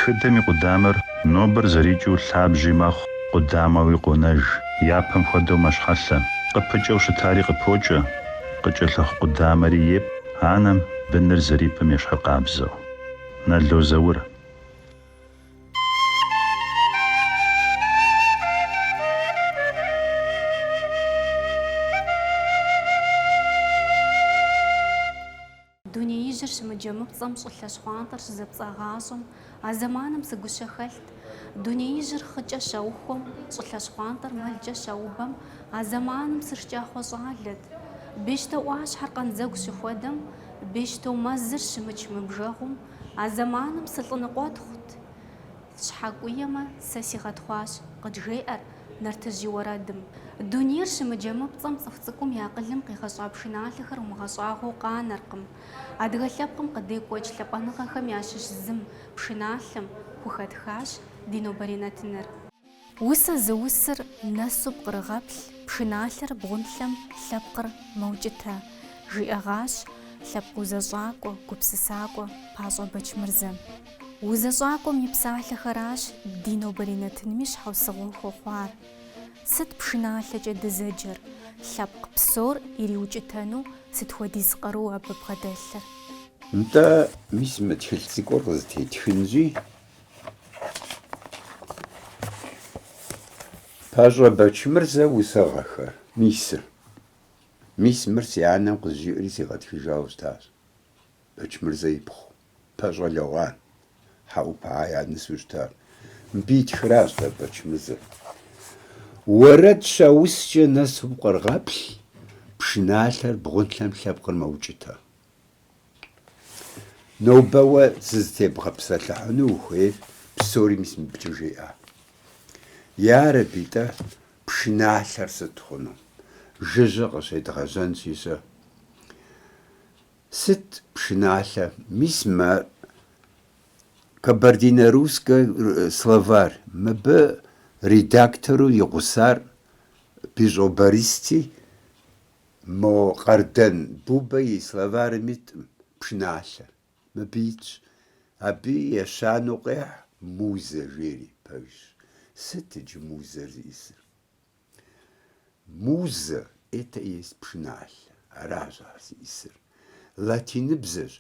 Тхыдэм и къудамэр нобэр зэрикӏыу лъабжьи мэхъу, къудамэуи къонэж, япэм хуэдэу мэщхьэлъэ. Къыпыкӏэу щытари къыпокӏэ, къыкӏэлъыхъу къудамэри епӏ анэм быныр зэрипӏым ещхьыркъабзэу. Нало Заур. Дунеижьыр щымыджэмыпцӏэм щӏылъэ щхъуантӏэр щызэпцӏагъащӏэм, а зэманым сыгущэхэлът. Дунеижьыр хъыкӏэ щаухуэм, щӏылъэ щхъуантӏэр мэлкӏэ щаубэм, а зэманым сышкӏахъуэ щӏалэт. Бещто ӏуащхьэр къандзэгу щыхуэдэм, бещто мэзыр щымыч мыбжэгъум, а зэманым сылӏыныкъуэтхъут. Щхьэкӏуэ емэ, сэ сигъэтхъуащ, къыджеӏэр, нартыжь и уэрэдым. Дунейр щымыджэмыпцӏэм цӏыху цӏыкӏум и акъылым къигъэщӏа пшыналъэхэр умыгъэщӏагъуэу къанэркъым. Адыгэ лъэпкъым къыдекӏуэкӏ лъапӏэныгъэхэм ящыщ зым, пшыналъэм, хухэтхащ ди нобэрей нэтыныр. Усэ зыусыр нэсу пкърыгъэплъ, пшыналъэр бгъунлъэм лъэпкъыр мэукӏытэ, жиӏэгъащ лъэпкъ узэщӏакӏуэ, гупсысакӏуэ Пащӏэ Бэчмырзэм. Узэщӏакӏуэм и псалъэхэращ ди нобэрей нэтынми щхьэусыгъуэ хуэхъуар. Сыт пшыналъэкӏэ дызэджэр, лъэпкъ псор ириукӏытэну сыт хуэдиз къару абы бгъэдэлъыр? Нтӏэ, мис мы тхылъ цӏыкӏур къызэтетхынщи, Пащӏэ Бэчмырзэ усыгъэхэр, мисыр. Мис мыр си анэм къызжиӏэри сигъэтхыжауэ щытащ. Бэчмырзэ ипхъу, Пащӏэ Лэгъуан, Хьэӏупэхэ я нысэу щытащ. Мыбы итхыращ дэ Бэчмырзэр. Уэрэд щаускӏэ нэсу пкърыгъэплъ, пшыналъэр бгъунлъэм лъэпкъыр мэукӏытэ. Нобэ уэ зызытебгъэпсэлъыхьыну ухуейр псори мис мыбыкӏэ жеӏэ. Ярэби-тӏэ, пшыналъэр сыт хъуну? Жыжьэ къыщедгъэжьэнщи щэ. Сыт пшыналъэ? Мис мы Кабардино-Русскэ словарь, мыбы редактору и гъусар Бищӏо Бористи, Мо Къардэн Бубэ и словарым иткъым пшыналъэр, мыбы итщ, абы ещанэу къехь музэ жери, пэжщ. Сыт иджы музэр зиӏысыр? Музэ, это есть пшыналъэ, аращ ар зиӏысыр. Латиныбзэщ,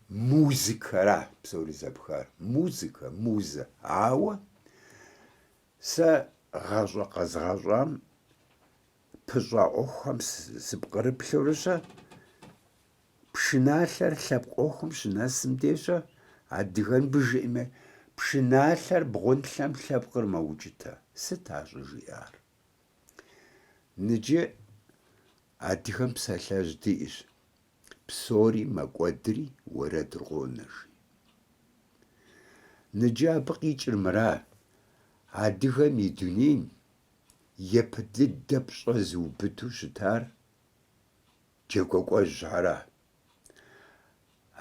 музыкэра псори зэпхар, музыкэ, музэ. Ауэ сэ гъащӏэ къэзгъащӏам, пыщӏа ӏуэхухэм сыпкърыплъурыщэ, пшыналъэр лъэпкъ ӏуэхум щынэсым дещэ, адыгэнбы жиӏэми, пшыналъэр бгъунлъэм лъэпкъыр мэукӏытэ. Сыт ар щӏыжиӏар? Ныджы адыгэм псалъэжь диӏэщ, псори мэкӏуэдри уэрэдыр къонэ жи. Ныджы абы къикӏыр мыра, адыгэм и дунейм Ипэ дыдэ пщӏэ зыубыду щытар джэгуакӏуэжьхьэра,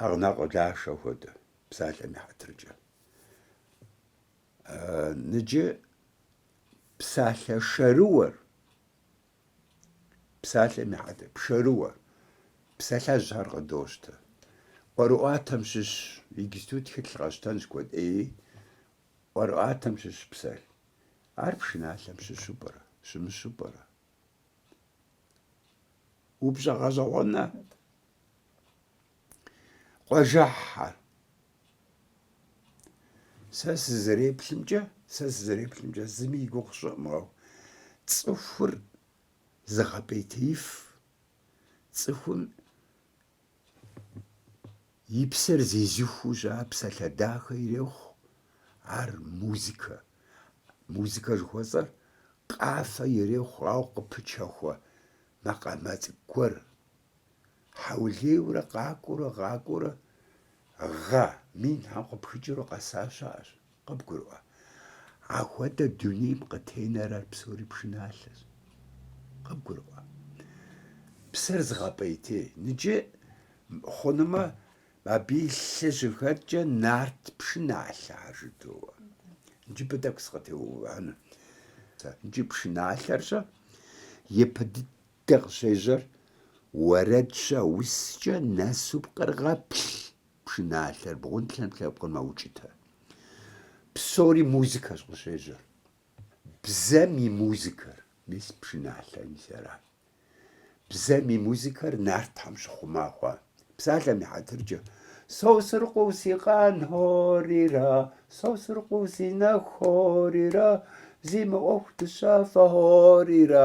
Агънокъуэ Лашэ хуэдэ, псалъэм и хьэтыркӏэ. Ныджы псалъэ шэрыуэр, псалъэм и хьэтыр, пшэрыуэр, псалъэжьхьэр къыдощтэ. ӏуэрыӏуатэм щыщ, иджыпсту тхылъ къэщтэнщ куэд ӏеи, ӏуэрыӏуатэм щыщ псалъ. Ар пшыналъэм щыщу пӏэрэ, щымыщу пӏэрэ? Упщӏэ гъэщӏэгъуэнэ къуажэхьхьэр. Сэ сызэреплъымкӏэ, сэ сызэреплъымкӏэ зыми и гугъу щӏыӏмгъэу. Цӏыхур зыгъэпӏейтеиф, цӏыхум И псэр зезыхуу щыӏэ псалъэ дахэ ирехъу ар музыкэ. Музыкэ жыхуэсӏэр къафэ ирехъу, ауэ къыпычэхуэ макъамэ цӏыкӏу гуэр. Хьэулейуэрэ къакӏуэурэ къакӏуэурэ гъэ минхьэм къыпхыкӏыурэ къэса щыӏэщ. Къыбгурыӏуэ, ахуэдэ дунейм къытенэр ар псори пшыналъэщ. Къыбгурыӏуэ, псэр зыгъэпӏейтей. Ныджы хъунумэ, абы и лъы щыхэткӏэ нарт пшыналъэ ар жыдоӏэ. Ныджы абы тӏэкӏу сыкъытеувыӏэну. Ныджы пшыналъэрщэ, ипэ дыдэ къыщежьэр, уэрэдщэ, ускӏэ нэсу пкърыгъэплъ, Пшыналъэр бгъунлъэм лъэпкъыр мэукӏытэ. Псори музыкэщ къыщежьэр. Бзэм и музыкэр, мис пшыналъэ мис ара. Бзэм и музыкэр нартхьэм щыхъума хъуа? Псалъэм и хьэтыркӏэ, Сосрыкъуэу си къан хьорира, Сосрыкъуэу си нэху хьорира, Зи мэӏуху дыщафэ хьорира,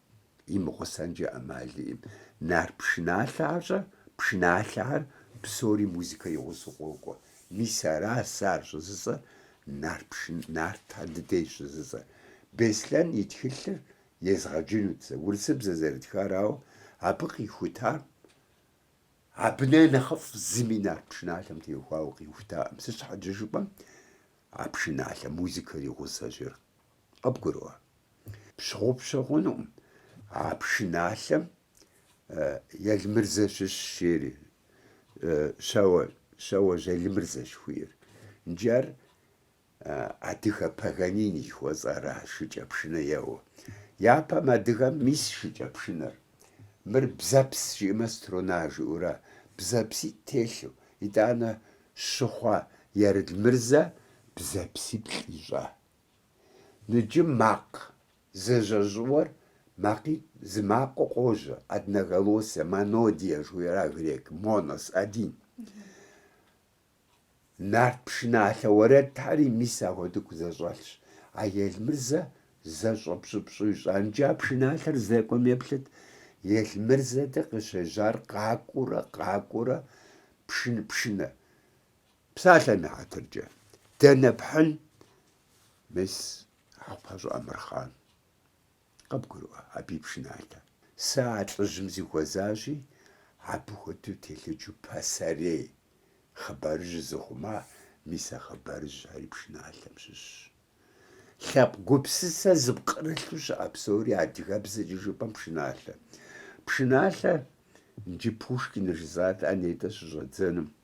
имыгъусэнкӏэ ӏэмал иӏым. Нарт пшыналъэхьэщэ, пшыналъэхьэр псори музыкэ и гъусэу къокӏуэ. Мис ара сэ ар щӏызыцӏэр, нарт пшын, нартхьэ дыдей щӏызыцӏэр. Беслъэн и тхылъыр езгъэджынут сэ, урысыбзэ зэрытхарауэ, абы къихутам, абы нэ нэхъыфӏ зыми нарт пшыналъэм теухуауэ къихутаӏым. Сыт щхьэкӏэ жыпӏэм, а пшыналъэм музыкэр и гъусэщ ир. Къыбгурыӏуэ. Пщыгъупщэ хъунукъым а пшыналъэм Елмырзэ щыщ, жери, щэуэ, Щэуэжь Елмырзэ жыхуиӏэр. Нджы ар адыгэ Паганини жыхуэтӏэра шыкӏэ пшынэ еуэ. Япэм адыгэм мис шыкӏэ пшынэр. Мыр бзэпс жиӏэмэ струна жиӏэура, бзэпситӏ телъу. Итӏанэ щыхъуа Елмырзэ бзэпсиплӏ ищӏа? Ныджым макъ зэщӏэжьыуэр макъитӏ зы макъыу къожьэ, одноголосие, монодия жыхуиӏэра грек, монос, один. Нарт пшыналъэ уэрэдхьэри мис ахуэдыку зэщӏэлъщ. А Елмырзэ зэщӏэпщӏыпщӏу ищӏа. Нджы а пшыналъэр здэкӏуэм еплъыт. Елмырзэ деж къыщежьар къакӏуэурэ къакӏуэурэ пшын пшынэ. Псалъэм и хьэтыркӏэ, дэнэ пхьын мис Хьэхъупащӏэ Амырхъан? Къыбгурыӏуэ абы и пшыналъэ. Сэ а лӏыжьым зихуэзащи, абы хуэдэу телъыджу пасэрей хъыбарыжь зыхъума, мис а хъыбарыжьхьэри пшыналъэм щыщщ. Лъэпкъ гупсысэ зыпкърылъу щыӏэ псори адыгэбзэкӏэ жыпӏэм пшыналъэ. Пшыналъэ, иджы Пушкин жысӏат, а нетӏэ щыщӏэддзэнум,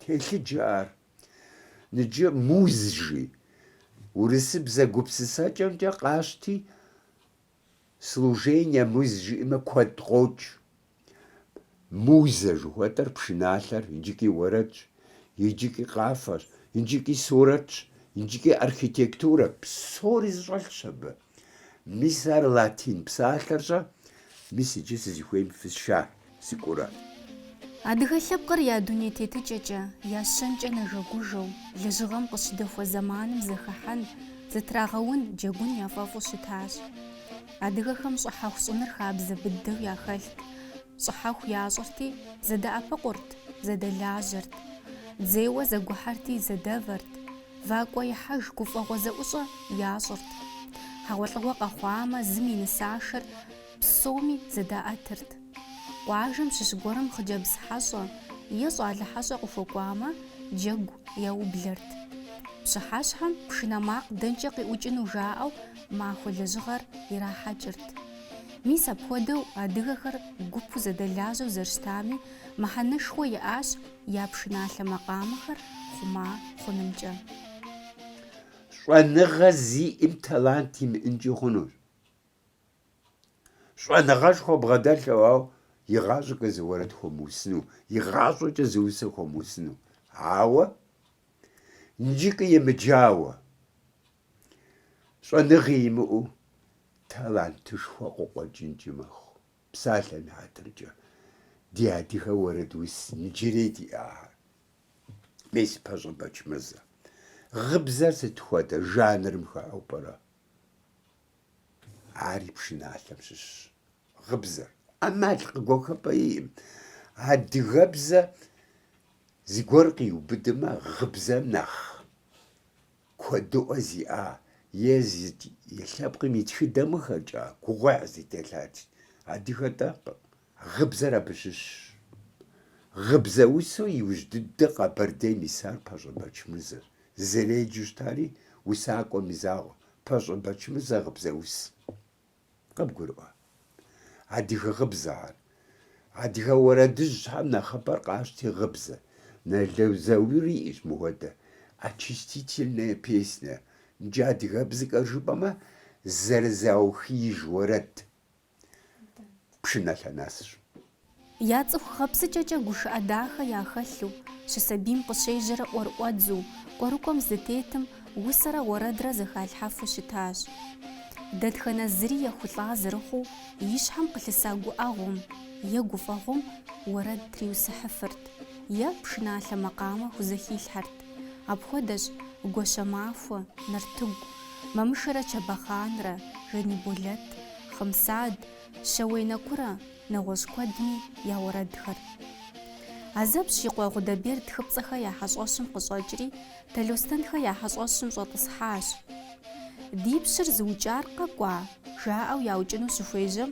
Телъыджэ ар. Ныджы муз жи. Урысыбзэ гупсысэкӏэмкӏэ къащти, служение муз жиӏэмэ куэд къокӏ. Музэ жыхуэтӏэр пшыналъэр иджыкӏи уэрэдщ, иджыкӏи къафэщ, иджыкӏи сурэтщ, иджыкӏи архитектурэ, псори зыщӏэлъщ абы. Мис ар латин псалъэрщӏэ, мис иджы сызыхуейм фысша сыкӏуэура. Адыгэ лъэпкъыр я дуней тетыкӏэкӏэ, я щэнкӏэ нэжэгужэу, лэжьыгъэм къыщыдэхуэ зэманым зэхыхьэн, зытрагъэун, джэгун яфӏэфӏу щытащ. Адыгэхэм щӏыхьэху щӏыныр хабзэ быдэу яхэлът, щӏыхьэху ящӏырти, зэдэӏэпыкъурт, зэдэлажьэрт. Дзейуэ зэгухьэрти, зэдэвэрт. Вакӏуэ ихьэж гуфӏэгъуэ зэӏущӏэ ящӏырт. Хьэгъуэлӏыгъуэ къэхъуамэ, зым и нысашэр псоми зэдаӏэтырт. Къуажэм щыщ гуэрым хъыджэбз хьэщӏэ е щӏалэ хьэщӏэ къыхуэкӏуамэ, джэгу яублэрт. Пщыхьэщхьэм пшынэ макъ дэнкӏэ къиӏукӏыну жаӏэу махуэ лэжьыгъэр ирахьэкӏырт. Мис апхуэдэу адыгэхэр гупу зэдэлажьэу зэрыщытами, мыхьэнэшхуэ иӏащ я пшыналъэ макъамэхэр хъума хъунымкӏэ. Щӏэныгъэ зиӏэм талант имыӏынкӏи хъунущ. Щӏэныгъэшхуэ бгъэдэлъэу, ауэ игъащӏэкӏэ зы уэрэд хуэмыусыну, игъащӏэкӏэ зы усэ хуэмыусыну. Ауэ нджыкӏэ емыджауэ, щӏэныгъи имыӏэу талантышхуэ къыкъуэкӏынкӏи мэхъу. Псалъэм и хьэтыркӏэ ди адыгэ уэрэдус нджырей диӏахэр. Мис Пащӏэ Бэчмырзэ, гъыбзэр сыт хуэдэ жанрым хыхьэу пӏэрэ? Ари пшыналъэм щыщщ гъыбзэр. ӏэмал къыгуэхыпӏэ иӏым. Адыгэбзэ зыгуэр къиубыдмэ, гъыбзэм нэхъ Куэдыӏуэ зиӏа Езы и лъэпкъым и тхыдэмыхэкӏэ гугъуехь зытелъат адыгэ хуэдэ. Гъыбзэр абы щыщщ. Гъыбзэусу иужь дыдэ Къэбэрдейм исар Пащӏэ Бэчмырзэщ. Зэреджэу щытари усакӏуэм и закъуэ, Пащӏэ Бэчмырзэр гъыбзэус. Къыбгурыӏуэ. Адыгэ гъыбзэхэр. Адыгэ уэрэдыжьхэм нэхъыбэр къащти гъыбзэ. Нало Заури иӏэщ мыхуэдэ очистительная песня. Иджы адыгэбзэкӏэ жыпӏэмэ зэрызаухеиж уэрэд. Пшыналъэ нэсщ. Я цӏыху гъэпсыкӏэкӏэ гушыӏэ дахэ яхэлъу, щысабийм къыщежьэрэ ӏуэрыӏуэдзу, кӏуэрыкӏуэм здытетым, усэрэ уэрэдрэ зэхалъхьэфу щытащ. Дэтхэнэ зыри ехулӏа зэрыхъуу, и щхьэм къылъыса гуӏэгъуэм е гуфӏэгъуэм уэрэд триусыхьыфырт е пшыналъэ макъамэ хузэхилъхьэрт. Апхуэдэщ Гуащэмахуэ, Нартыгу, Мамышэрэ Чэбэхъанрэ, Жаниболэт, Хъымсад, Щэуей Нэкурэ, нэгъуэщӏ куэдми я уэрэдхэр. Азэпщ и къуэ Гъудэберд Тхыпцӏэхэ я хьэщӏэщым къыщӏэкӏри, Талостэнхэ я хьэщӏэщым щӏэтӏысхьащ. Ди пщыр зыукӏар къэкӏуа? жаӏэу яукӏыну щыхуежьэм,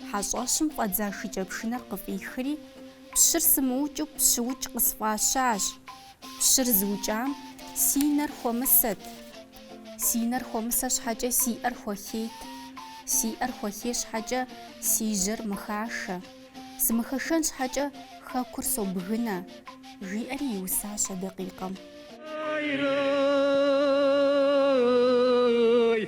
хьэщӏэщым фӏэдза шыкӏэпшынэр къыфӏихри, пщыр сымыукӏыу пщыукӏ къысфӏащащ. Пщыр зыукӏам си нэр хуэмысэт. Си нэр хуэмысэ щхьэкӏэ си ӏэр хуэхейт. Си ӏэр хуэхей щхьэкӏэ си жьэр мыхашэ. Сымыхэшэн щхьэкӏэ хэкур собгынэ, жиӏэри иусащ а дакъикъэм.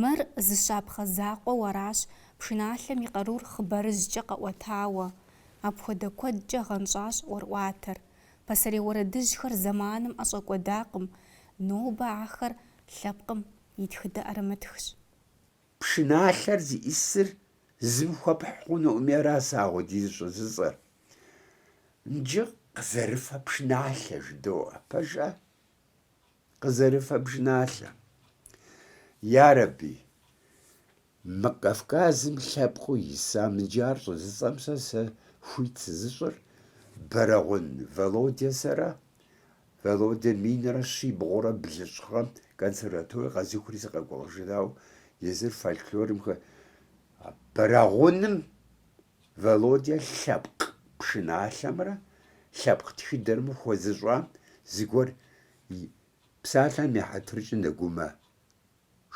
Мыр зы щапхъэ закъуэу аращ пшыналъэм и къарур хъыбарыжькӏэ къэӏуэтауэ. Апхуэдэ куэдкӏэ гъэнщӏащ ӏуэрыӏуатэр. Пасэрей уэрэдыжьхэр зэманым ӏэщӏэкӏуэдакъым, нобэ ахэр лъэпкъым и тхыдэ ӏэрымытхщ. Пшыналъэр зиӏисыр зыми хуэпхь хъунукъыми, ара сэ ахуэдизу щӏыжысӏэр. Нджы къызэрыфэ пшыналъэ жыдоӏэ, пэжа? къызэрыфэ пшыналъэр. Ярэби, мы Кавказым лъэпкъыу исам нджы ар щӏыжысӏэм сэ сэ хуит сызыщӏыр Бэрэгъун Володя сэрэ. Володя минрэ щибгъурэ блыщӏ гъэм консерватори къэзухри сыкъэкӏуэжыгъау, езыр фольклорым хэ Бэрэгъуным Володя лъэпкъ пшыналъэмрэ лъэпкъ тхыдэмрэ хуэзыщӏам зыгуэр, псалъэм и хьэтыркӏэ Нэгумэ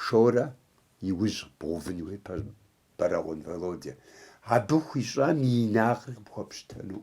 Шорэ и ужь бгъувын хуей Бэрэгъун Володя. Абы хуищӏам и инагъыр къыпхуэпщытэну.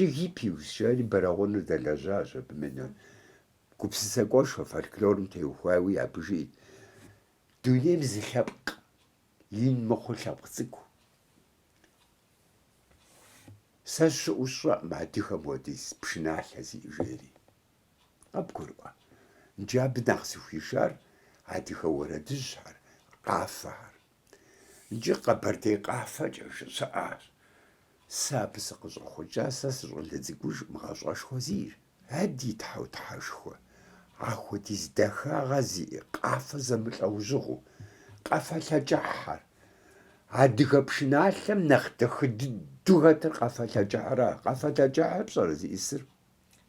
Иджы Гиппиус жари Бэрэгъуныр дэлэжьащ абы мыдэ. Гупсысакӏуэшхуэ фольклорым теухуауи абы жиӏт, Дунейм зы лъэпкъ ин мыхъуу лъэпкъ цӏыкӏу. Сэ щыӏэу сщӏэкъым адыгэм хуэдиз пшыналъэ зиӏэ жери. Къэбгурыӏуэ. Иджы абы нэхъ зыхуишар адыгэ уэрэдыжьхэр, къафэхэр. Иджы Къэбэрдей къафэкӏэ жыщыӏащ. Сэ абы сыкъыщӏэхъукӏа сэ сыщӏалэ цӏыкӏужкъым, гъащӏэшхуэ сиӏэщ. А ди Тхьэу Тхьэшхуэ, ахуэдиз дахагъэ зиӏэ къафэ зэмылӏэужьыгъуу, къафэ лъэкӏыхьхэр. Адыгэ пшыналъэм нэхъ дахэ дыдэу хэтыр къафэ лъэкӏыхьра? Къафэ лъэкӏыхьыр пщӏэрэ зиӏисыр?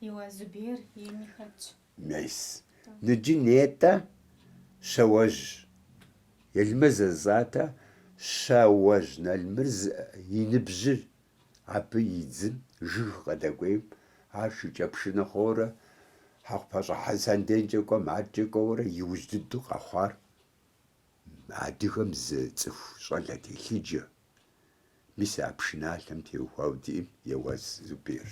Еуаз Зубер ейми хэтщ. Мес. Ныджы нетӏэ, Щэуэжь Елмырзэ жысӏати, Щэуэжь Елмырзэ и ныбжьыр Абы и дзым жыг къыдэкӏуейм, ар шыкӏэпшынэ хъуурэ Хьэкъупащӏэ Хьэсэн денкӏэ кӏуэм адэкӏэ кӏуэурэ иужь дыдэу къэхъуар адыгэм зы цӏыху щӏалэ телъыджэ, мис а пшыналъэм теухуауэ диӏэм Еуаз Зуберщ.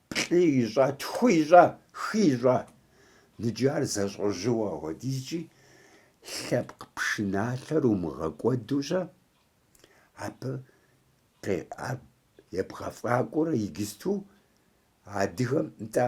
Плӏы ищӏа, тху ищӏа, хы ищӏа? Ныджы ар зэщӏэжьыуэ ахуэдизкӏи, лъэпкъ пшыналъэр умыгъэкӏуэдущэ, абы къикӏар ебгъэфӏакӏуэурэ игисту адыгэм, нтӏэ,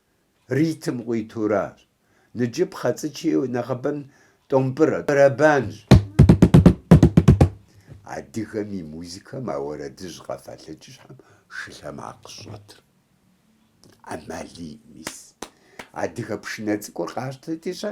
Ритм къуитуращ. Ныджы пхъэцӏычи нэхъыбэм тӏомпӏырэ, бэрэбанщ. Адыгэм и музыкэм а уэрэдыжь къэфэлъыкӏыщхьэм шы лъэмакъ щӏэтыр ӏэмал иӏ мис. Адыгэ пшынэ цӏыкӏур къащтэти щэ?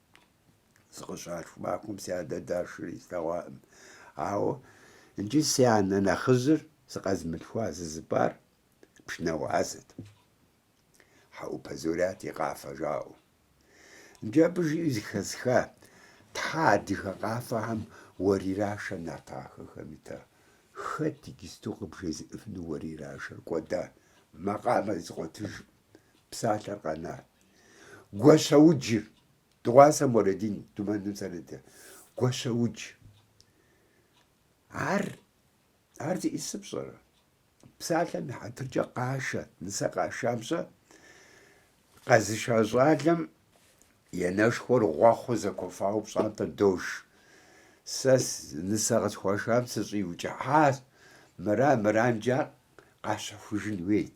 Сыкъыщалъху махуэм си адэ дашри слъэгъуаӏым. Ауэ иджы си анэ нэхъыжьыр сыкъэзмылъхуа сызыпӏар пшынауэ ӏэзэт. Хьэӏупэ Зурят и къафэ жаӏэу. Иджы абы жиӏэу зыхэсха, тхьэ, адыгэ къафэхэм уэрирашэ нарт ахэхэм ита. Хэт иджысту къыбжезыӏыфыну уэрирашэр кӏуэда? Макъамэ зыкъуэтыж псалъэр къэнар. Гуащэуджыр, Дыгъуасэ Мурадин Думэным зэрыдыр, Гуащэудж. Ар, ар зиӏисыр пщӏэрэ? Псалъэм и хьэтыркӏэ къашэ, нысэ къашам щэ, къэзыша щӏалэм енэшхуэр гъуэхъу зэкуэфауэ пщӏантӏэ дож. Сэ нысэ къысхуашам сыщӏиукӏыхьащ, мыра, мыранджа къащэхужын уейт.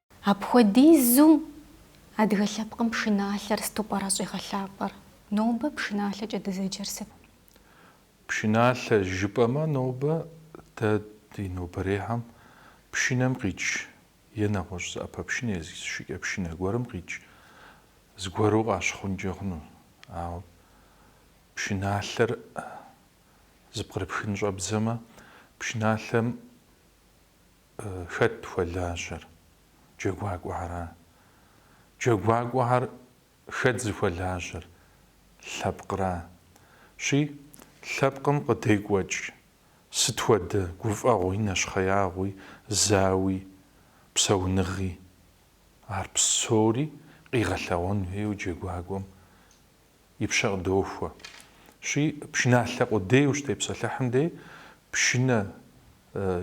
Апхуэдизу адыгэ лъэпкъым пшыналъэр сыту пӏэрэ щӏигъэлъапӏэр? Нобэ пшыналъэкӏэ дызэджэр сыт? Пшыналъэ жыпӏэмэ, нобэ дэ ди нобэрейхэм пшынэм къикӏ е нэгъуэщӏ зы ӏэпэпшынэ е зы шыкӏэпшынэ гуэрым къикӏ зыгуэру къащыхъункӏэ хъуну. Ауэ пшыналъэр зыпкърыпхын щӏэбдзэмэ, пшыналъэм Хэт хуэлажьэр? Джэгуакӏуэхьэра? Джэгуакӏуэхьэр хэт зыхуэлажьэр? Лъэпкъра? Щи, лъэпкъым къыдекӏуэкӏ сыт хуэдэ гуфӏэгъуи нэщхъеягъуи зауи псэуныгъи, ар псори къигъэлъэгъуэн хуейуэ джэгуакӏуэм и пщэ къыдохуэ. Щи, пшыналъэ къудейуэ ущытепсэлъыхьым дей пшынэ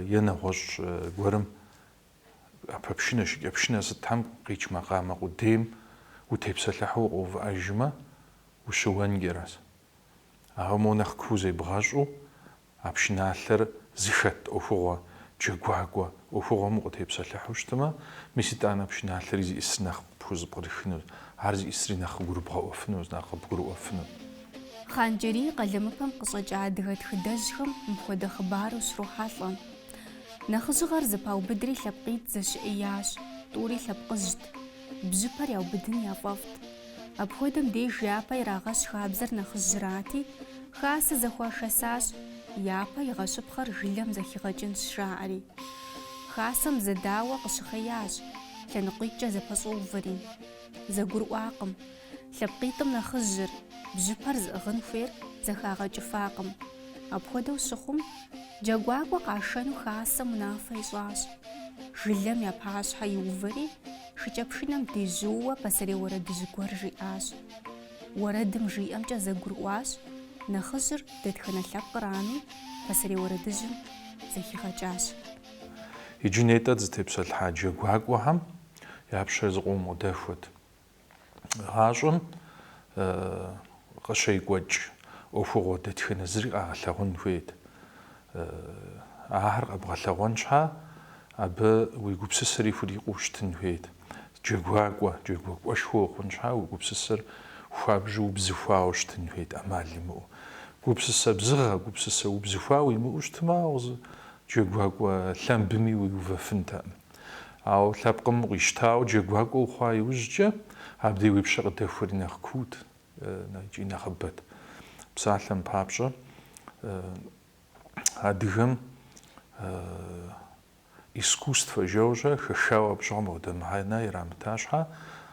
е нэгъуэщӏ гуэрым ӏэпэпшынэ, шыкӏэпшынэ сытхэм къикӏ макъамэ къудейм утепсэлъыхьу укъыувыӏэжмэ, ущыуэнкӏэращ. Ауэ моу нэхъ куу зебгъэщӏу А пшыналъэр зыхэт ӏуэхугъуэ, джэгуакӏуэ, ӏуэхугъуэм укъытепсэлъыхьу щытмэ, мис итӏанэ пшыналъэри зиӏисыр нэхъ пхузыпкърыхыну, ар зиӏисри нэхъ къыгурыбгъэӏуэфыну, нэхъ къыбгурыӏуэфыну. Хъан-Джэрий и къалэмыпэм къыщӏэкӏа адыгэ тхыдэжьхэм мыпхуэдэ хъыбар ущрохьэлӏэ. Нэхъыжьыгъэр зэпаубыдри лъэпкъитӏ зэщыӏеящ, тӏури лъэпкъыжьт. Бжьыпэр яубыдын яфӏэфӏт. Апхуэдэм деж япэ ирагъэщ хабзэр нэхъыжьрати, хасэ зэхуашэсащ, япэ игъэщыпхъэр жылэм зэхигъэкӏынщ жаӏэри. Хасэм зэдауэ къыщыхъеящ, лъэныкъуитӏкӏэ зэпэщӏэувэри. Зэгурыӏуакъым, лъэпкъитӏым нэхъыжьыр, бжьыпэр зыӏыгъын хуейр зэхагъэкӏыфакъым. Апхуэдэу щыхъум, джэгуакӏуэ къашэну хасэм унафэ ищӏащ. Жылэм я пащхьэ иувэри, Шыкӏэпшынэм дежьууэ пасэрей уэрэдыжь гуэр жиӏащ. Уэрэдым жиӏэмкӏэ зэгурыӏуащ, нэхъыжьыр дэтхэнэ лъэпкърами, пасэрей уэрэдыжьым зэхигъэкӏащ. Иджы нетӏэ зытепсэлъхьа джэгуакӏуэхэм я пщэ зыкъом къыдэхуэт. Гъащӏэм къыщекӏуэкӏ ӏуэхугъуэ дэтхэнэ зыри къагъэлъэгъуэн хуейт. Ахэр къэбгъэлъэгъуэн щхьа, абы уи гупсысэри хурикъуу щытын хуейт. Джэгуакӏуэ, джэгуакӏуэшхуэ ухъун щхьа, уи гупсысэр хуабжьу убзыхуауэ щытын хуейт, ӏэмал имыӏэу. Гупсысэ бзыгъэ, гупсысэ убзыхуа уимыӏэу щытмэ, ауэ зы джэгуакӏуэ лъэмбыми уиувэфынтэкъым. Ауэ лъэпкъым укъищтауэ джэгуакӏуэ ухъуа иужькӏэ, абдей уи пщэ къыдэхуэри нэхъ куут икӏи нэхъыбэт. Псалъэм папщӏэ, адыгэм искусствэ жэуэ-щэ хэхауэ абы щыгъуэм апхуэдэ мыхьэнэ ирамыта щхьа,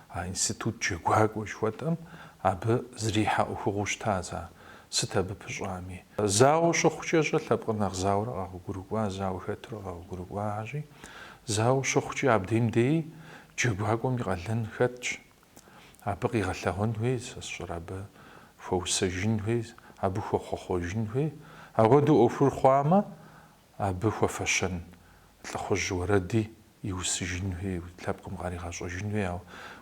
а институт джэгуакӏуэ жыхуэтӏэм абы зэрихьэ ӏуэхугъуэу щытащ ар. сыт абы пыщӏами. Зауэ щыхъукӏэ-щэ лъэпкъыр нэхъ зауэрэ къэгъуэгурыкӏуа, зауэ хэтурэ къэгъуэгурыкӏуахэщи, зауэ щыхъукӏи абдейм деи джэгуакӏуэм и къалэн хэтщ. Абы къигъэлъэгъуэн хуей, сэ сщӏэрэ, абы хуэусэжын хуей, абы хуэхъуэхъуэжын хуей. Апхуэдэу ӏуэхур хъуамэ, Абы хуэфэщэн лӏыхъужь уэрэди иусыжын хуей, лъэпкъым къаригъэщӏэжын хуей, ауэ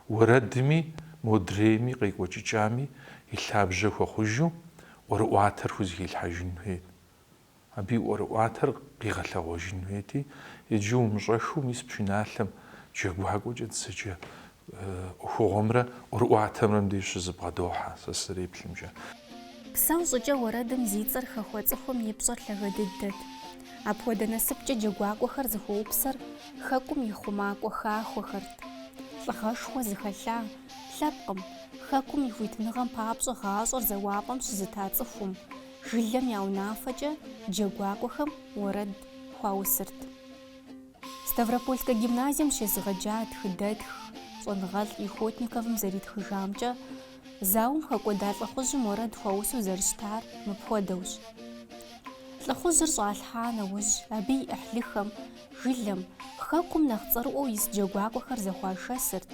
уэрэдми, модрейми, къекӏуэкӏыкӏами и лъабжьэ хуэхъужу ӏуэрыӏуатэр хузэхилъхьэжын хуейт. Абы и ӏуэрыӏуатэр къигъэлъэгъуэжын хуейти, иджы умыщӏэхыу мис пшыналъэм джэгуакӏуэкӏэ дызэджэ ӏуэхугъуэмрэ ӏуэрыӏуатэмрэ мыбдеж щызэбгъэдохьэ сэ сызэреплъымкӏэ. Псэу щӏыкӏэ уэрэдым зи цӏэр хэхуэ цӏыхум и пщӏэр лъагэ дыдэт. Апхуэдэ насыпкӏэ джэгуакӏуэхэр зыхуэупсэр хэкум и хъумакӏуэ хахуэхэрт. Лӏыгъэшхуэ зыхэлъа, лъэпкъым, хэкум и хуитыныгъэм папщӏэ гъащӏэр зэуапӏэм щызыта цӏыхум, жылэм я унафэкӏэ джэгуакӏуэхэм уэрэд хуаусырт. Ставропольскэ гимназием щезыгъэджа тхыдэтх щӏэныгъэлӏ Юхотниковым зэритхыжамкӏэ, зауэм хэкӏуэда лӏыхъужьым уэрэд хуаусу зэрыщытар мыпхуэдэущ. Лӏыхъужьыр щӏалъхьа нэужь, абы и ӏыхьлыхэм, жылэм, хэкум нэхъ цӏэрыӏуэу ис джэгуакӏуэхэр зэхуашэсырт,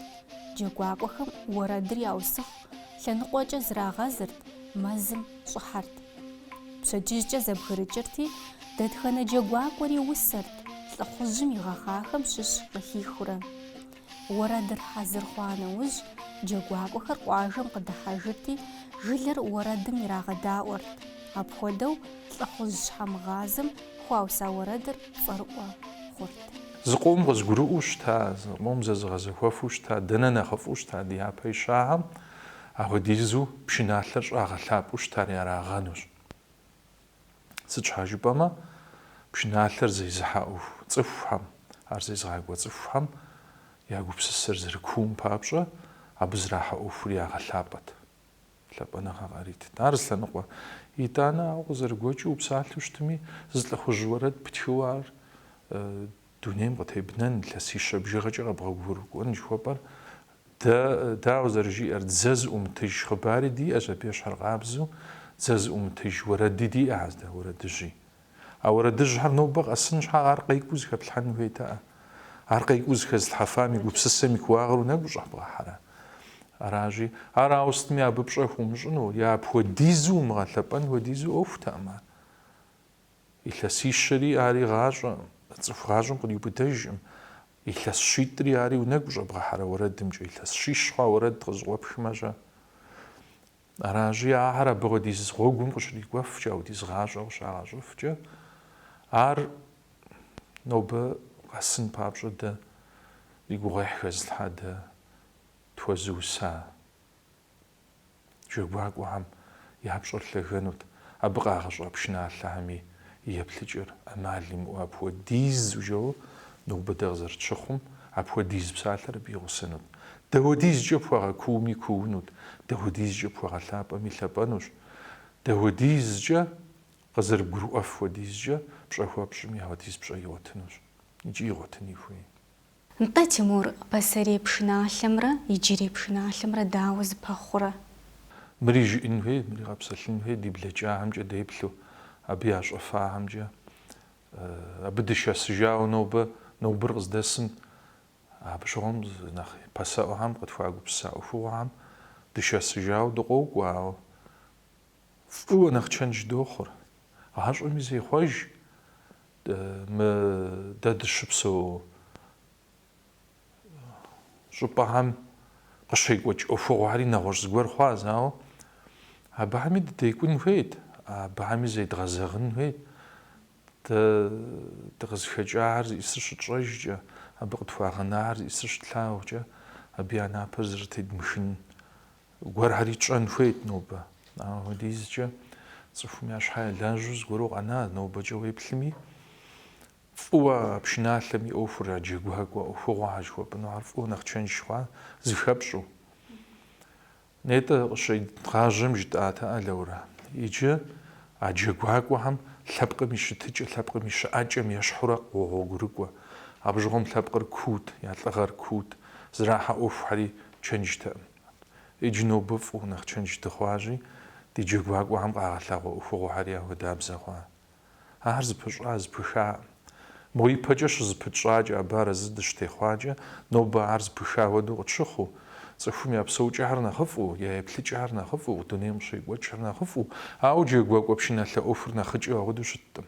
джэгуакӏуэхэм уэрэдыр яусыху лъэныкъуэкӏэ зрагъэзырт, мэзым, щӏыхьэрт. Пщэдджыжькӏэ зэбгрыкӏырти, дэтхэнэ джэгуакӏуэри усэрт, лӏыхъужьым игъэхъахэм щыщ къыхихурэ. Уэрэдыр хьэзыр хъуа нэужь, джэгуакӏуэхэр къуажэм къыдыхьэжырти, жылэр уэрэдым ирагъэдаӏуэрт. Апхуэдэу лӏыхъужь щхьэмыгъазэм хуауса уэрэдыр цӏэрыӏуэ хъурт. Зыкъом къызгурыӏуэу щыта, зыкъом зэзыгъэзэхуэфу щыта, дэнэ нэхъыфӏу щыта ди япэ ищахэм, Апхуэдизу пшыналъэр щӏагъэлъапӏэу щытари арагъэнущ. Сыт щхьа жыпӏэмэ, пшыналъэр зезыхьэ ӏуэху цӏыхухэм, ар зезыгъакӏуэ цӏыхухэм я гупсысэр зэрыкуум папщӏэ, абы зэрахьэ ӏуэхури ягъэлъапӏэт, лъапӏэныгъэ къаритт. Ар зы лъэныкъуэ. Итӏанэ, ауэ къызэрыгуэкӏыу упсалъэу щытми, зы лӏыхъужь уэрэд птхыуэ ар Дунейм къытебнэн, илъэсищэ бжыгъэкӏэ къэбгъэгъуэгурыкӏуэн жыхуэпӏэр, дэ, дауэ зэрыжиӏэр, дзэ зыӏумытыж хъыбари диӏэщ, абы ещхьэркъабзэу, дзэ зыӏумытыж уэрэди диӏэ, аздэ уэрэдыжьи. А уэрэдыжьхэр нобэ къэсын щхьа ар къекӏуу зыхэплъхьэн хуейтэӏэ? Ар къекӏуу зыхэзлъхьэфам и гупсысэм и кууагъыр унэгу щӏэбгъэхьэрэ? Аращи, ар ауэ сытми абы пщӏэ хуумыщӏыну, е апхуэдизу умыгъэлъэпӏэн хуэдизу ӏуэхутэкъым ар. Илъэсищэри ари гъащӏэ, цӏыху гъащӏэм къриубыдэжкъым. Илъэс щитӏри ари унэгу щӏэбгъэхьэрэ уэрэдымкӏэ, илъэс щищ хъуа уэрэд къызэкъуэпхмэ-щэ? Аращи, ахэр абы хуэдиз гъуэгум къыщрикӏуэфкӏэ, ауэдиз гъащӏэ къыщагъэщӏыфкӏэ, ар нобэ къэсын папщӏэ дэ и гугъуехь хэзылъхьа, дэ тхуэзыуса? Джэгуакӏуэхэм я пщӏэр лъэгэнут, абы къагъэщӏа пшыналъэхэми и еплъыкӏэр ӏэмал имыӏэу апхуэдизу жэуэ нобэ дэ къызэрытщыхъум, апхуэдиз псалъэр абы игъусэнут. Дауэдизкӏэ пхуэгъэкууми куунут, дауэдизкӏэ пхуэгъэлъапӏэми лъэпӏэнущ, дауэдизкӏэ къызэрыбгурыӏуэф хуэдизкӏэ пщӏэ хуэпщӏми ауэдиз пщӏэ игъуэтынущ икӏи игъуэтыни хуей. Нтӏэ, Тимур, пасэрей пшыналъэмрэ иджырей пшыналъэмрэ дауэ зэпэхъурэ? Мыри жыӏэн хуей, мыри къэпсэлъын хуей ди блэкӏахэмкӏэ деплъу, абы ящӏэфахэмкӏэ. Абы дышэсыжауэ нобэ, нобэр къыздэсым, абы щыгъуэм нэхъ пасэӏуэхэм къытхуагупсыса ӏуэхугъуэхэм дышэсыжауэ дыкъокӏуэ, ауэ Фӏыуэ нэхъ чэнж дохъур. Гъащӏэми зехъуэж мы дэ дыщыпсэу щӏыпӏэхэм къыщекӏуэкӏ ӏуэхугъуэхэри нэгъуэщӏ зыгуэр хъуащ, ауэ абыхэми дыдекӏун хуейт, абыхэми зедгъэзэгъын хуейт. Дэ дыкъызыхэкӏахэр зиӏысыр щытщӏэжкӏэ, абы къытхуагъэнахэр зиӏысыр щытлъагъукӏэ, абы я напэр зэрытедмыхын Гуэрхэри тщӏэн хуейт нобэ. Апхуэдизкӏэ цӏыхум я щхьэ я лажьэу зыгуэру къэна нобэкӏэ уеплъми, фӏыуэ пшыналъэм и ӏуэхур а джэгуакӏуэ ӏуэхугъуэхэр жыхуэпӏынухэр фӏыуэ нэхъ чэнж хъуа, зыхэпщӏу. Нетӏэ къыщедгъажьэм жытӏатэкъэ, Лаурэ. Иджы а джэгуакӏуэхэм лъэпкъым и щытыкӏэ, лъэпкъым и щыӏэкӏэм ещхьурэ къогъуэгурыкӏуэ. Абы щыгъуэм лъэпкъыр куут, я лӏыгъэр куут, зрахьэ ӏуэхухьэри чэнджтэкъым. Иджы нобэ фӏыуэ нэхъ чэндж дыхъуащи, ди джэгуакӏуэхэм къагъэлъагъуэ ӏуэхугъуэхэри яхуэдабзэ хъуа? Ахэр зыпыщӏа, зыпыхакъым. Мо ипэкӏэ щызыпытщӏакӏэ абы арэзы дыщытехъуакӏэ, нобэ ар зыпыха хуэдэу къытщыхъуу, цӏыхум я псэукӏэхэр нэхъыфӏу, я еплъыкӏэхэр нэхъыфӏу, дунейм къыщекӏуэкӏхэр нэхъыфӏу, ауэ джэгуакӏуэ пшыналъэ ӏуэхур нэхъыкӏэу ахуэдэу щыткъым.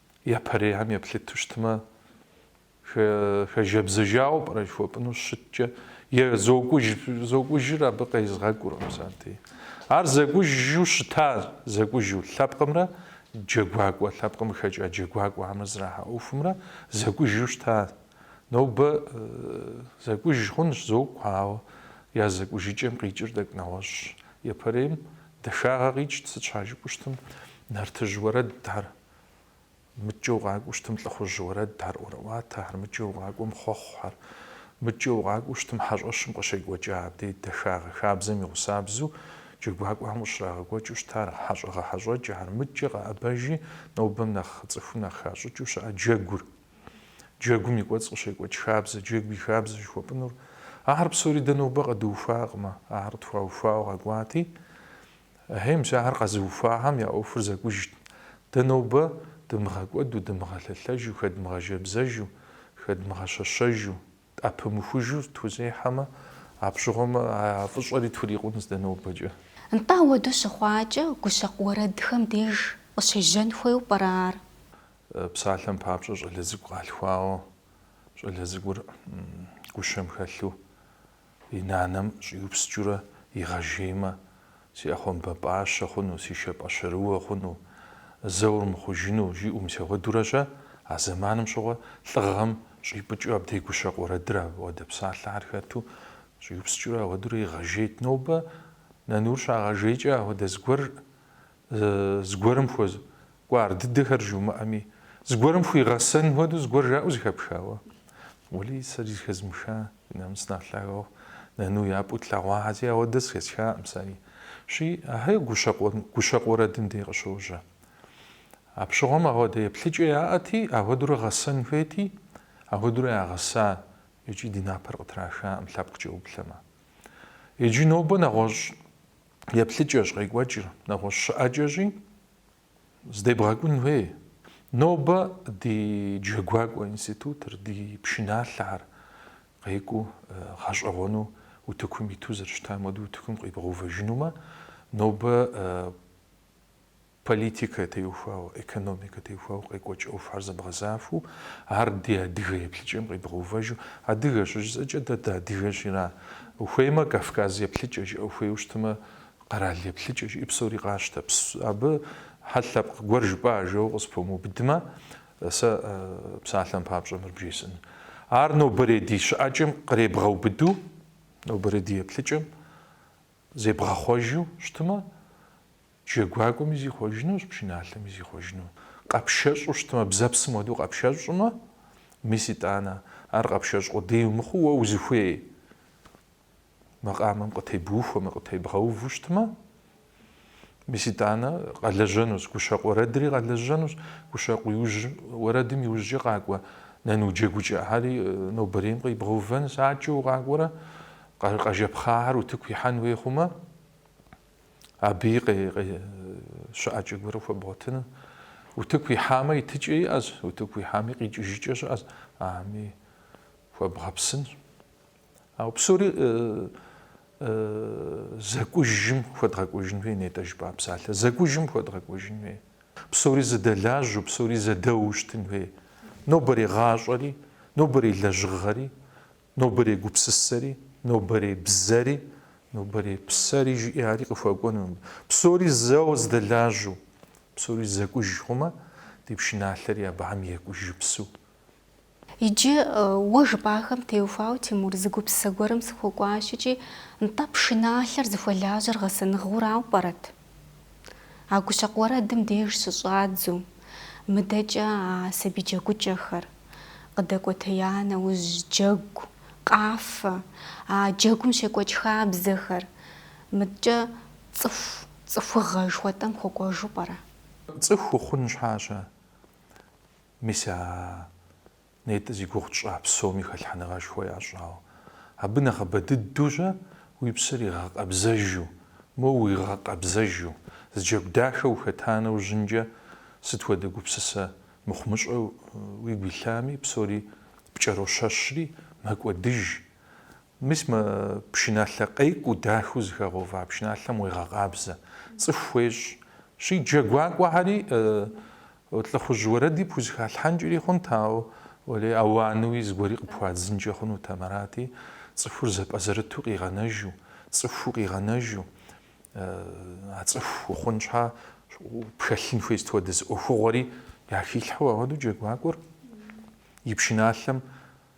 Япэрейхэм еплъыту щытмэ, хэжэбзэжауэ пӏэрэ жыхуэпӏыну щыткӏэ, е зокӏужыр абы къезгъэкӏуркъым сати. Ар зэкӏужу щытар, зэкӏужу, лъэпкъымрэ джэгуакӏуэ, лъэпкъым къыхэкӏа джэгуакӏуэхэмрэ зрахьэ ӏуэхумрэ зэкӏужу щыта. Нобэ зэкӏуж хъунщ, зокӏу, ауэ я зэкӏужыкӏэм къикӏыр тӏэкӏу нэгъуэщӏщ. Япэрейм дахагъэ къикӏт, сыт щхьа жыпӏэу щытым, нартыжь уэрэдхэр. Мыкӏэ угъакӏуэу щытым лӏыхъужь уэрэдхэр, ӏуэрыӏуатэхэр, мыкӏэ укъакӏуэм хъуэхъухэр. Мыкӏэ угъакӏуэу щытым хьэщӏэщым къыщекӏуэкӏа абдей дахагъэ хабзэм и гъусабзэу джэгуакӏуэхэм къыщрагъэкӏуэкӏыу щытар, хьэщӏэ гъэхьэщӏэкӏэхэр, мыкӏэ къэӏэбэжи, нобэм нэхъ цӏыхум нэхъ хащӏыкӏыу щыӏэ джэгур. Джэгум и кӏуэцӏ къыщекӏуэкӏ хабзэ, джэгу и хабзэ жыхуэпӏынур. Ахэр псори дэ нобэ къэдуухуакъымэ, ахэр тхуаухуауэ къэкӏуати, Ахьей, мис ахэр къэзыухуахэм я ӏуэхур зэкӏужт. Дэ нобэ дымыгъэкӏуэду, дымыгъэлъэлъэжу, хэдмыгъэжэбзэжу, хэдмыгъэщэщэжу, тӏэпымыхужу тхузехьэмэ, апщыгъуэмэ, а фӏыщӏэри тхурикъунщ дэ нобэкӏэ. Нтӏэ, уэду щыхъуакӏэ, гущэкъу уэрэдхэм деж къыщежьэн хуейуэ пӏэрэ ар? Псалъэм папщӏэ, щӏалэ цӏыкӏу къалъхуауэ, щӏалэ цӏыкӏур гущэм хэлъу. И нанэм щӏиупскӏыурэ, игъэжеймэ, си ӏэхъуамбэ пӏащэ хъуну, си шэ пӏэщэрыуэ хъуну, зэуэр мыхъужыну, жиӏэу мис ауэдурэ-щэ, а зэманым щыгъуэ лӏыгъэм щӏипӏыкӏыу абдей гущэкъу уэрэдыр ауэдэ псалъэхэр хэту, щӏиупскӏыурэ ауэдурэ игъэжейт. Нобэ нанур щагъэжейкӏэ, ахуэдэ зыгуэр зыгуэрым хуэзыкӏуэ ар дыдэхэр жумыӏэми, зыгуэрым хуигъэсэн хуэдэу зыгуэр жаӏэу зыхэпхауэ. Уэлий, сэри зыхэзмыха ди намыс нэхъ лъагэу нэну япӏэу тлъэгъуахэти, ауэдэ зэхэсхакъым сэри. Щи, ахэр гущэкъу уэрэдым дей къыщожьэ. А пщыгъуэм ауэдэ еплъыкӏэ яӏэти, ахуэдурэ гъэсэн хуейти, ахуэдурэ ягъэса икӏи ди напэр къытрахакъым лъэпкъкӏэ уплъэмэ. Иджы нобэ нэгъуэщӏ. еплъыкӏэщ къекӏуэкӏыр, нэгъуэщӏ щыӏэкӏэщи, здебгъэкӏун хуей. Нобэ ди Джэгуакӏуэ институтыр, ди пшыналъэхэр къекӏуу гъэщӏэгъуэну утыкум иту зэрыщытам хуэдэу утыкум къибгъэувэжынумэ, нобэ Политикэ теухуауэ, экономикэ теухуауэ къекӏуэкӏ ӏуэхухэр зэбгъэзахуэу, ар ди адыгэ еплъыкӏэм къибгъэувэжу, адыгэ щыжысӏэкӏэ дэ дыадыгэщ, ира? Ухуеймэ, Кавказ еплъыкӏэ жыӏэ, ухуейуэ щытмэ, къэрал еплъыкӏэ жыӏи псори къащтэ. Абы хьэл лъэпкъ гуэр жыпӏащ жыпӏэу къыспомыубыдмэ, сэ псалъэм папщӏэ мыр бжесӏэн. Ар нобэрей ди щыӏэкӏэм къребгъэубыду, нобэрей ди еплъыкӏэм зебгъэхъуэжу щытмэ, Джэгуакӏуэми зихъуэжынущ, пшыналъэми зихъуэжыну. Къэпшэщӏу щытмэ, бзэпсым хуэдэу къэпшэщӏмэ, мис итӏанэ, ар къэпшэщӏ къудей умыхъуу уэ узыхуей макъамэм къытебухуэмэ, къытебгъэуву щытмэ, мис итӏанэ къэлэжьэнущ, гущэкъу уэрэдри къэлэжьэнущ, гущэкъу иужь уэрэдым иужькӏэ къакӏуэ нану джэгукӏэхэри нобэрейм къибгъэувэнщ, адэкӏэ укъакӏуэрэ къэ, къэжэпхъахэр утыку ихьэн хуей хъумэ, Абыи щыӏэкӏэ гуэрэ хуэбгъуэтыну. Утыку ихьамэ, итыкӏэ иӏэщ, утыку ихьами, къикӏыжыкӏэ щыӏэщ. Абыи хуэбгъэпсынщ. Ауэ псори зэкӏужым хуэдгъэкӏуэжын хуей, нетӏэ жыпӏа псалъэ, зэкӏужым хуэдгъэкӏуэжын хуей. Псори зэдэлажьэу, псори зэдэуэу щытын хуей. Нобэрей гъащӏэри, нобэрей лэжьыгъэри Нобэрей гупсысэри, нобэрей бзэри, нобэрей псэри жыӏи ари къыхуэкӏуэну, псори зэу зэдэлажьэу, псори зэкӏуж хъумэ, ди пшыналъэри абыхэм екӏужыпсу. Иджы уэ жыпӏахэм теухуауэ, Тимур, зы гупсысэ гуэрым сыхуэкӏуащ икӏи, нтӏэ, пшыналъэр зыхуэлажьэр гъэсэныгъэурауэ пӏэрэт? А гущэкъу уэрэдым деж щыщӏадзу, мыдэкӏэ а сабий джэгукӏэхэр къыдэкӏуэтея нэужь джэгу, къафэ, а джэгум щекӏуэкӏ хабзэхэр, мыдкӏэ цӏыху, цӏыхугъэ жыхуэтӏэм хуэкӏуэжу пӏэрэ? Цӏыху ухъун щхьэщэ, мис а. Нетӏэ зи гугъу тщӏа псоми хэлъхьэныгъэшхуэ ящӏауэ. Абы нэхъыбэ дыдэу-щэ уи псэр игъэкъэбзэжу, моуэ уигъэкъэбзэжу, зы джэгу дахэ ухэта нэужьынкӏэ сыт хуэдэ гупсысэ мыхъумыщӏэ уигу илъами, псори пкӏэрощэщри, мэкӏуэдыж. Мис мы пшыналъэ къекӏуу дахэу зыхэгъэува пшыналъэм уегъэкъабзэ, цӏыху уещӏ. Щи джэгуакӏуэхэри лӏыхъужь уэрэди пхузыхалъхьэнкӏэри хъунт, ауэ уэлей ауануи зыгуэри къыпхуадзынкӏэ хъунутэм арати, цӏыхур зэпӏэзэрыту къигъэнэжу, цӏыхуу къигъэнэжу, а цӏыху ухъун щхьа пхэлъын хуей сыт хуэдэ зы ӏуэхугъуэри яхилъхьэу, ауэдэу джэгуакӏуэр и пшыналъэм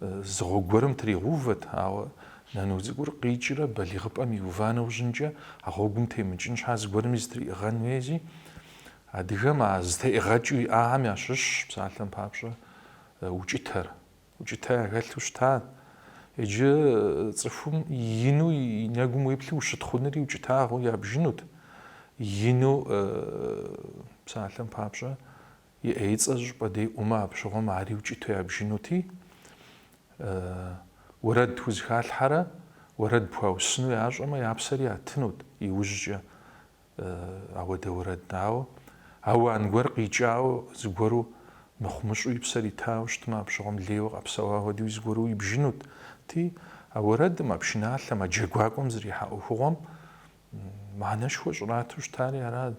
Зы гъуэгу гуэрым тригъэувэт, ауэ нану цӏыкӏур къикӏрэ балигъыпӏэм иува нэужьынкӏэ а гъуэгум темыкӏын щхьа зыгуэрми зытриӏыгъэн хуейзи, адыгэм а зытеӏыгъэкӏэу иӏахэм ящыщщ псалъэм папщӏэ укӏытэр. Укӏытэ яхэлъу щыта. Иджы цӏыхум ину и нэгум уеплъу ущытхъунри укӏытагъэу ябжынут. Ину псалъэм папщӏэ И ӏейцӏэ зыщӏыпӏэ де ӏумэ, апщыгъуэм ари укӏыту ябжынути, уэрэд пхузыхалъхьэрэ уэрэд пхуаусыну ящӏэмэ, я псэр ятынут иужькӏэ ауэдэ уэрэд. Ауэ ауан гуэр къикӏауэ, зыгуэру мыхъумыщӏу и псэр итауэ щытмэ, апщыгъуэм лейуэ къэпсэуа хуэдэуи зыгуэру ибжынути, а уэрэдым, а пшыналъэм, а джэгуакӏуэм зэрихьа ӏуэхугъуэм Мыхьэнэшхуэ щӏрату щытари арат.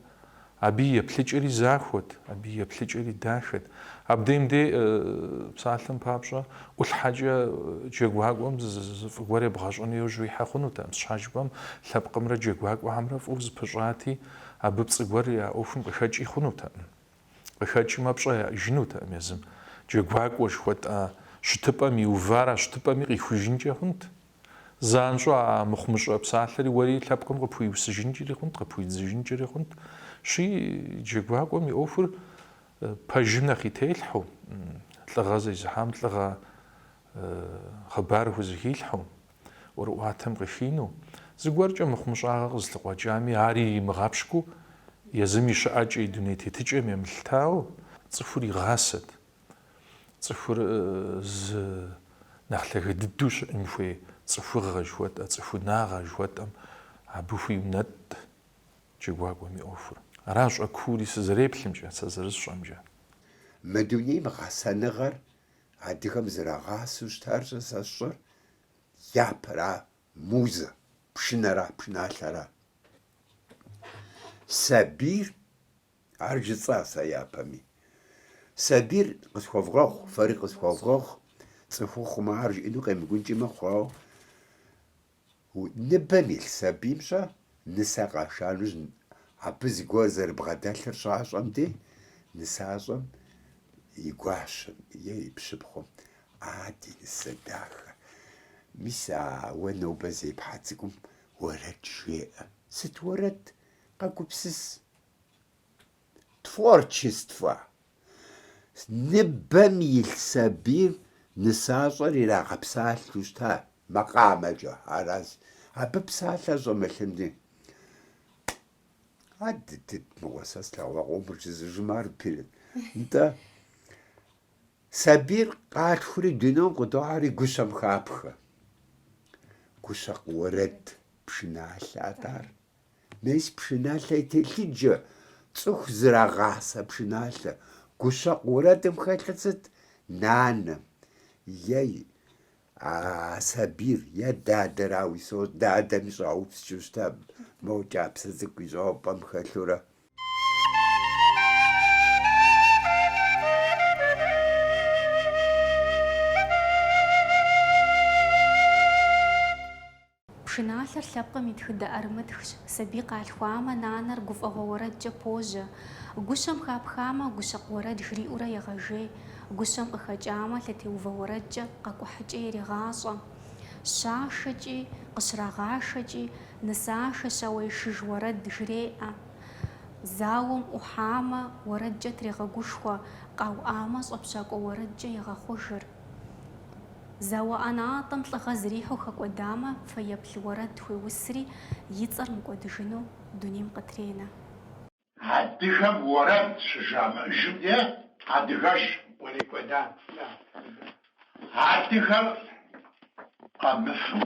Абы и еплъыкӏэри захуэт, абы и еплъыкӏэри дахэт. Абдеим де псалъэм папщӏэ, ӏулъхьэкӏэ джэгуакӏуэм фӏы гуэр ебгъэщӏэну йожьу ихьэ хъунутэкъым. Сыт щхьа жыпӏэм лъэпкъымрэ джэгуакӏуэхэмрэ фӏыу зыпыщӏати, абы пцӏы гуэр я ӏуэхум къыхэкӏи хъунутэкъым. Къыхэкӏмэ, пщӏэ иӏэжынутэкъым езым. Джэгуакӏуэ жыхуэтӏа щытыпӏэм иувар а щытыпӏэми къихужынкӏэ хъунт. Занщӏэу а мыхъумыщӏэ псалъэри уэри лъэпкъым къыпхуиусыжынкӏэри хъунт, къыпхуидзыжынкӏэри хъунт. Щи, джэгуакӏуэм и ӏуэхур пэжым нэхъ и телъхьу, лӏыгъэ зезыхьам лӏыгъэ хъыбар хузэхилъхьу, ӏуэрыӏуатэм къыхину, зыгуэркӏэ мыхъумыщӏагъэ къызылъыкъуэкӏами, ари имыгъэпщкӏуу, езым и щыӏэкӏэ, и дуней тетыкӏэм емылъытауэ, цӏыхур игъасэт. Цӏыхур зы нэхъ лъагэ дыдэу щыӏэн хуей цӏыхугъэ жыхуэтӏэ, цӏыхунагъэ жыхуэтӏэм абы хуиунэтӏ джэгуакӏуэм и ӏуэхур. Аращ ӏуэкуури сызэреплъымкӏэ, сэ зэрысщӏэмкӏэ. Мы дунейм гъэсэныгъэр адыгэм зэрагъасэу щытар-щэ, сэ сщӏэр япэра музэ, пшынэра пшыналъэра? Сабийр Ар жысӏа сэ япэми. Сабийр, къысхуэвгъэгъу, фэри къысхуэвгъэгъу, цӏыхухъум ар жиӏэну къемыкӏункӏи мэхъу, ауэ ныбэм илъ сабийм-щэ, нысэ къаша нэужь, абы зыгуэр зэрыбгъэдэлъыр щащӏэм дей, нысащӏэм и гуащэм е и пщыпхъум, А, ди нысэ дахэ! Мис а уэ нобэ зепхьэ цӏыкӏум уэрэд жеӏэ. Сыт уэрэд? Къэгупсыс, Творчествэ. Ныбэм илъ сабийр нысащӏэр ирагъэпсалъэу щыта макъамэкӏэ, аращ. Абы псалъэ щӏэмылъынри. А дыдыд мыгъуэ сэ слъэгъуакъуэу мырчызыжым ар пиры. Нтӏэ, сабийр къалъхури дунейм къытохьэри гущэм хапхэ. Гущэкъу уэрэд пшыналъэ атӏэ ар. Мес пшыналъэ и телъыджэ, цӏыху зэрагъасэ пшыналъэ. Гущэкъу уэрэдым хэлъыр сыт? Нанэм е а сабийр, е дадэр, ауи со дадэми щӏаупскӏэу щыта, мо кӏапсэ цӏыкӏу ищӏэу пӏэм хэлъурэ. Пшыналъэр лъэпкъым и тхыдэ ӏэрымытхщ, сабий къалъхуамэ, нанэр гуфӏэгъуэ уэрэдкӏэ пожьэ. Гущэм хапхамэ, гущэкъу уэрэд жриӏэурэ егъэжей, гущэм къыхэкӏамэ, лъэтеувэ уэрэдкӏэ къэкӏухьыкӏэ ирегъащӏэ. Щашэкӏи, къыщрагъашэкӏи, нысашэ щауэишыж уэрэд жреӏэ. Зауэм ӏухьамэ, уэрэдкӏэ трегъэгушхуэ, къауӏамэ, щӏэпщакӏуэ уэрэдкӏэ егъэхъужыр. Зауэ ӏэнатӏэм лӏыгъэ зэрихьэу хэкӏуэдамэ, фэеплъ уэрэд хуеусри, и цӏэр мыкӏуэдыжыну дунейм къытренэ. Адыгэм уэрэд щыжамыӏэжым дей адыгэш кърикӏуэда. Адыгэр къэмыфэу